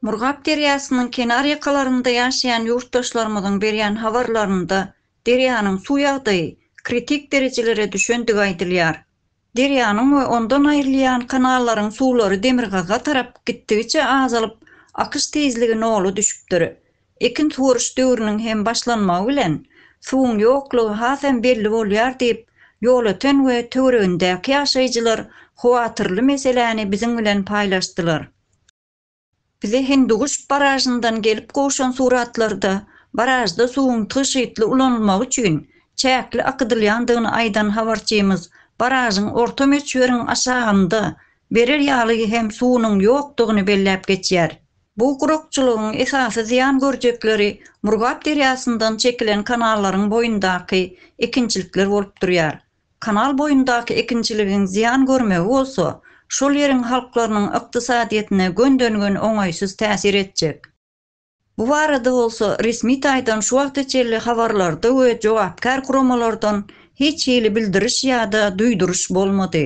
Murgap derýasynyň kenar ýakalarynda ýaşaýan ýurtdaşlarymyzyň berýän habarlarynda derýanyň suw ýagdaýy kritik derejelere düşendigi aýdylýar. Derýanyň we ondan aýrylýan kanallaryň suwlary demirgazyga tarap gitdigiçe azalyp, akyş tizligi nola düşüpdir. Ekin suwaryş döwrüniň hem başlanmagy bilen, suwuň ýoklugy hasam belli bolýar diýip, Ýolöten we töweregindäki ýaşaýjylar howatyrly meseläni biziň bilen paýlaşdylar. Bize Hindiguş baražyndan gelip gowşan suratlarda baražda suwuň tygşytly ulanylmagy üçin çäkli akydylýandygyny aýdan habarçymyz baražyň orta möçberiň aşagynda, berer ýaly hem suwunyň ýokdugyny belläp geçýär. Bu gurakçylygyň esasy zyýan görjekleri Murgap derýasyndan çekilen kanallaryň boýundaky ekinçilikler bolup durýar. Kanal boýundaky ekinçiligiň zyýan görmegi bolsa, şol ýeriň halklarynyň ykdysadyýetine gönden-gön oňaýsyz täsir etjek. Bu barada bolsa resmi taýdan şu wagta çenli habarlarda we jogapkär guramalardan hiç hili bildiriş ýa-da duýduryş bolmady.